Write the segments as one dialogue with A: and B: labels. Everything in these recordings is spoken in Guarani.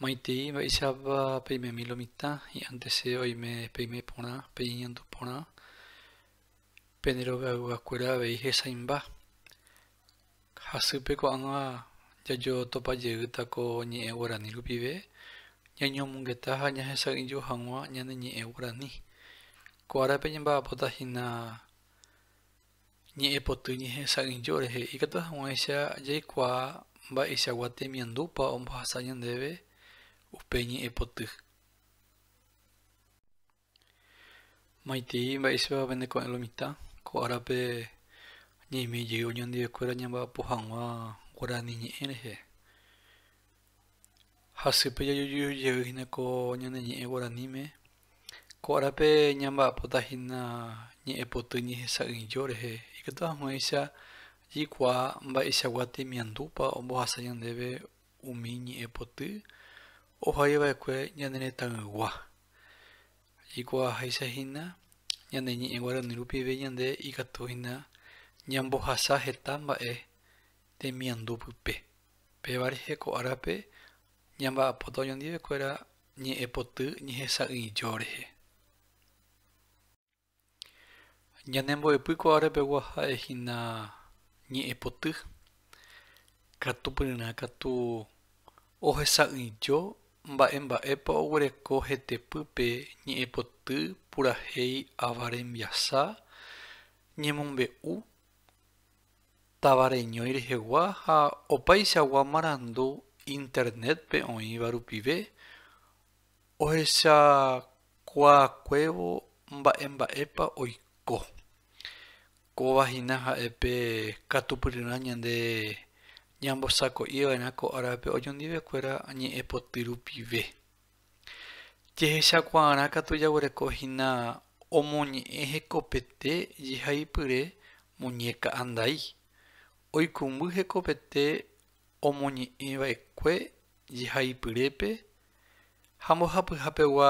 A: Maitei mba'éichapa peimemi lo mitã, hi'ãnte che oime peime porã, pe iñandu porã, pene rovyayguakuéra kuéra avei hesaimba. Hasýpe ko'ág̃a jajotopa jeýta ko ñe'ẽ guarani rupive, ñañomongeta ha ñahesa'ỹijo hag̃ua ñane ñe'ẽ guarani. Ko árape ñamba'apóta hína. Ñe'ẽpoty ñehesa'ỹijo rehe ikatu hag̃uáicha jaikuaa mba'eichagua temiandúpa ombohasa ñandéve upe ñe'ẽpoty. Maitei mba'éichapa pende ko'ẽ lo mitã, ko árape ñaime jey oñondive kuéra ñamba'apo hag̃ua guarani ñe'ẽ rehe. Hasýpe jajuju jey hína ko ñane ñe'ẽ guaraníme. Ko árape ñamba'apóta hína ñe'ẽ poty ñehesa'ỹijo rehe, ikatu haguẽicha jaikuaa mba'eichagua temiandúpa ombohasa ñandéve umi ñe'ẽ poty ohai va'ekue ñane retãygua. Jaikuaaháicha hína ñane ñe'ẽ guarani rupive ñande ikatu hína ñambohasa heta mba'e temiandu pype. Pévare heko árape ñamba'apóta oñondivekuéra ñe'ẽpoty ñehesa'ỹijo rehe. Ñanembo'epy ko árapegua ha'e hína ñe'ẽpoty, katupyryrã katu ohesa'ỹijo mba'e mba'épa oguereko hetepýpe ñe'ẽpoty purahéi ava rembiasa ñemombe'u táva reñói rehegua ha opaichagua marandu Internet-pe oĩva rupive ohechakuaakuévo mba'e mba'épa oiko. Kóva hína ha'e pe katupyryrã ñande ñambosako'iva'erã ko árape oñondivekuéra ñe'ẽpoty rupive. Jehechakuaarã katu jaguereko hína omoñe'ẽ hekopete jehaipyre muñéka andai. Oikũmby hekopete omoñe'ẽ va'ekue jehaipyrépe ha mbohapyha pegua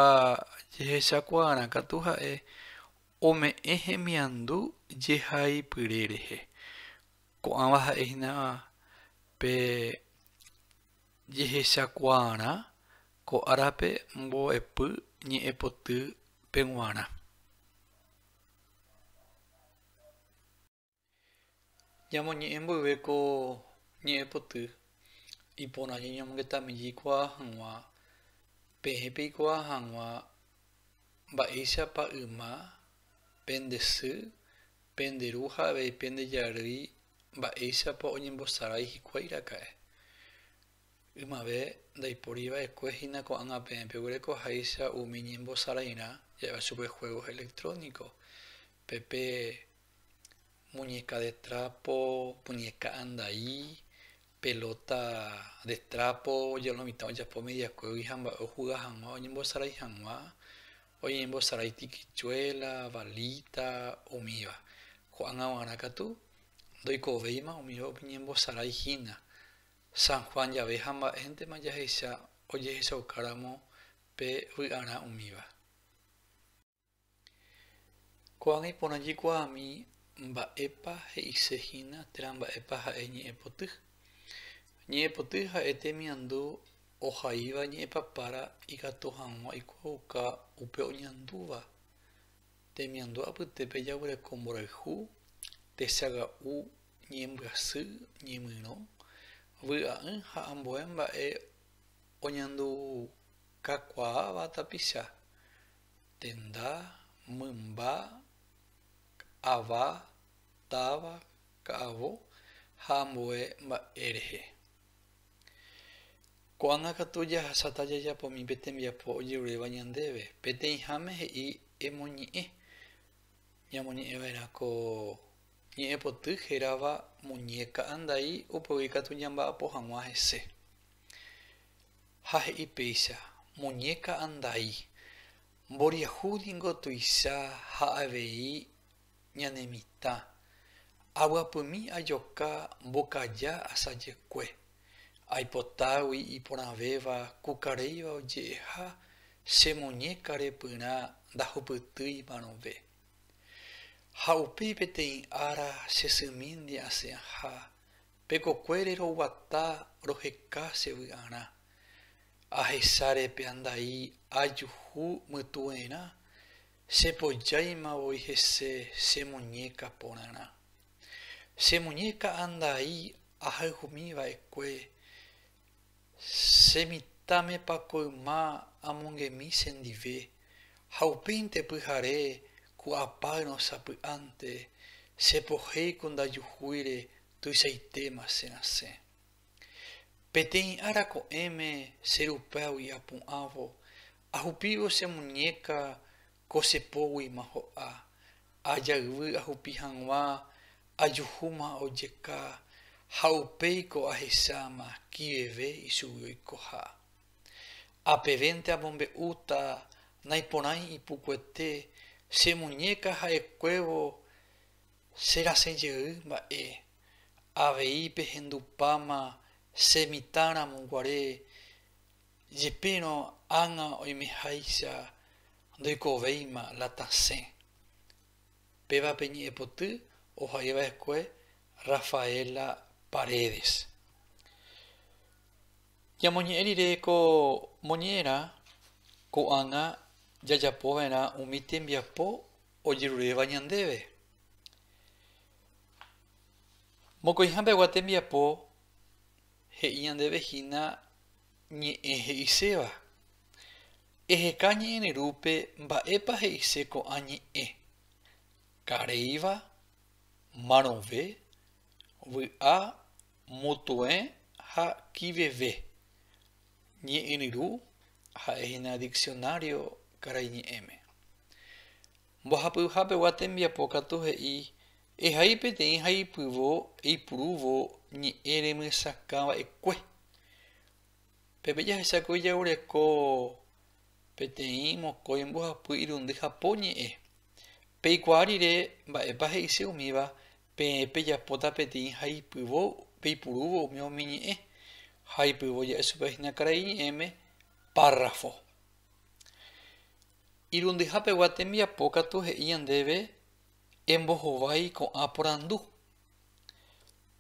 A: jehechakuaarã katu ha'e ome'ẽ hemiandu jehaipyre rehe. Ko'ãva ha'e hína pe Jehechakuaarã ko árape mbo'epy ñe'ẽpoty pe g̃uarã. Ñamoñe'ẽ mboyve ko ñe'ẽpoty, iporã ñañomongetameje ikuaa hag̃ua peẽ peikuaa hag̃ua mba'éichapa yma pende sy, pende ru ha avei pende jarýi Mba'éichapa oñembosarái hikuái raka'e? Ymave ndaipóri va'ekue hína ko'ág̃a peẽ peguereko háicha umi ñembosarairã ja'éva chupe juegos electrónicos, pe pe muñeca de trapo, muñeca andai, pelota de trapo, lo mitã ojapo mediakuégui ha mba'e ojuga hag̃ua oñembosarai hag̃ua, Oñeñembo Sarai tikichuela, valita, umíva. Ko'ág̃a g̃uarã katu, ndoikovéima umíva oñeñembo Sarai hína. San Juan jave ha mba'éntema jahecha ojehechaukáramo pe vy'arã umíva. Ko'ág̃a iporã jaikuaami mba'épa he'ise hína térã mba'épa ha'e ñe'ẽpoty. Ñe'ẽpoty ha'e temiandu Ohaíva ñe'ẽpapára ikatu hag̃ua ikuaauka upe oñandúva. Temiandu apytépe jaguereko mborayhu, techaga'u, ñembyasy, ñemyrõ, vy'a'ỹ ha ambue mba'e oñandukakuaáva tapicha, tenda, mymba, ava, táva, ka'avo ha ambue mba'e rehe. Ko'ág̃a katu jahasáta jajapo umi pe tembiapo ojeruréva ñandéve. Peteĩháme he'i emoñe'ẽ ñamoñe'ẽva'erã ko ñe'ẽ poty hérava muñéka andai upégui katu ñamba'apo hag̃ua hese. Ha he'i péicha, Muñéka andai, mboriahu ningo tuicha ha avei ñane mitã, avyapymi ajoka mbokaja asajekue, aipotágui iporãvéva kukaréiva oje'eha che muñéka repyrã ndahupytýi marõve. Ha upéi peteĩ ára che symínte asẽha, pekokuére roguata roheka che vy'arã, ahecháre pe andai ajuhu mytuerã, Chepojáima voi hese che muñéka porãrã. Che muñéka andai ahayhumi va'ekue, che mitãmepa ko yma amongemi chendive, ha upéinte pyhare ku apáyrõ sapy'ánte, chepohéi ku ndajuhúire tuichaitéma cherasẽ. Peteĩ ára ko'ẽme che rupégui apu'ãvo, ahupívo che muñéka ko che póguima ho'a, ajayvy ahupi hag̃ua ajuhúma ojeka ha upéi ko ahecháma kiveve ichugui oikoha. Apevénte amombe'úta naiporãi ipukuete che muñéka ha'ekuévo Che rasẽ jey mba'e, avei pehendupáma che mitã ramo guare, jepérõ ág̃a oimeháicha ndoikovéima la tasẽ. Péva pe ñe'ẽpoty ohai va'ekue Rafaela Paredes. Ñamoñe'ẽ rire ko moñe'ẽrã ko'ág̃a jajapo va'erã umi tembiapo ojeruréva ñandéve. Mokõiha pegua tembiapo he'i ñandéve hína ñe'ẽ he'iséva. Eheka ñe'ẽrerúpe mba'épa he'ise ko'ã ñe'ẽ, karéiva, marõve, vy'a, mutuẽ ha kiveve. Ñe'ẽryru ha'e hína diksionário karaiñe'ẽme. Mbohapyha pegua tembiapo katu he'i ehai peteĩ haipyvo eipurúvo ñe'ẽ remyesakã va'ekue. Peve jahechakói jaguereko peteĩ mokõi mbohapy irundy ha po ñe'ẽ. Peikuaa rire mba'épa he'ise umíva Peẽ pejapóta peteĩ haipyvo peipurúvo umi umi ñe'ẽ, haipyvo ja'e chupe hína karai ñe'ẽme párrafo. Irundyha pegua tembiapo katu he'i ñandéve embohovái ko'ã porandu.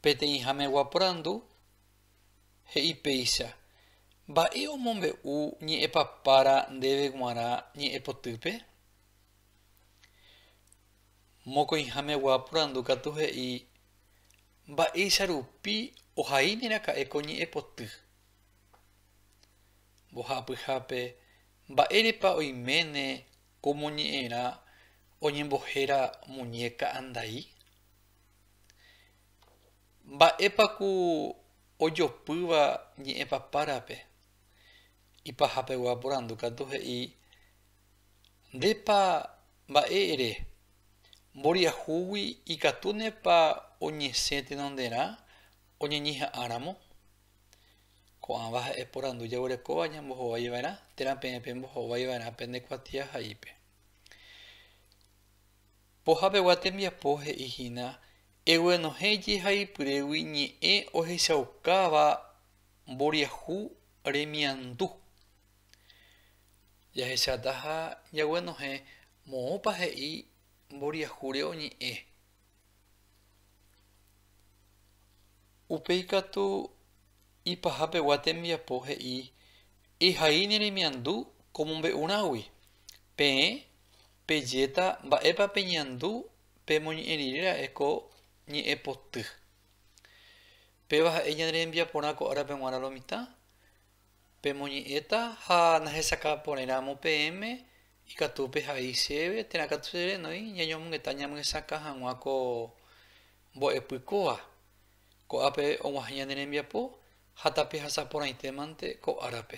A: Peteĩha megua porandu he'i péicha, Mba'e omombe'u ñe'ẽpapára ndéve g̃uarã ñe'ẽpotýpe? Mokõihamegua porandu katu he'i mba'éicha rupi ohaíne raka'e ko ñe'ẽpoty. Mbohapyhápe, mba'érepa oiméne ko moñe'ẽrã oñembohéra muñéka andai? Mba'épa ku ojopýva ñe'ẽpapárape? Ipahapegua porandu katu he'i Ndépa mba'e ere? Mboriahúgui ikatúnepa oñesẽ tenonderã oñeñeha'ãramo? Ko'ãva ha'e porandu jaguerekóva ñambohovaiva'erã térã peẽ pembohovaiva'erã pene kuatiahaípe. Pohapegua tembiapo he'ihína eguenohẽ jehaipyrégui ñe'ẽ ohechaukáva mboriahu remiandu. Jahecháta ha jaguenohẽ moõpa he'i mboriahúre oñe'ẽ. Upéi katu ipaha pegua tembiapo he'i ehai neremiandu ko mombe'urãgui. Peẽ pejéta mba'épa peñandu pemoñe'ẽ rire ra'e ko ñe'ẽ poty. Péva ha'e ñane rembiaporã ko árape g̃uarã lo mitã, Pemoñe'ẽta ha nahesakã porẽ ramo peẽme ikatu pehai chéve térã katu che renói ñañomongeta ñamyesakã hag̃ua ko mbo'epy kóva. Ko'ápe og̃uahẽ ñane rembiapo ha tapehasa porãitémante ko árape.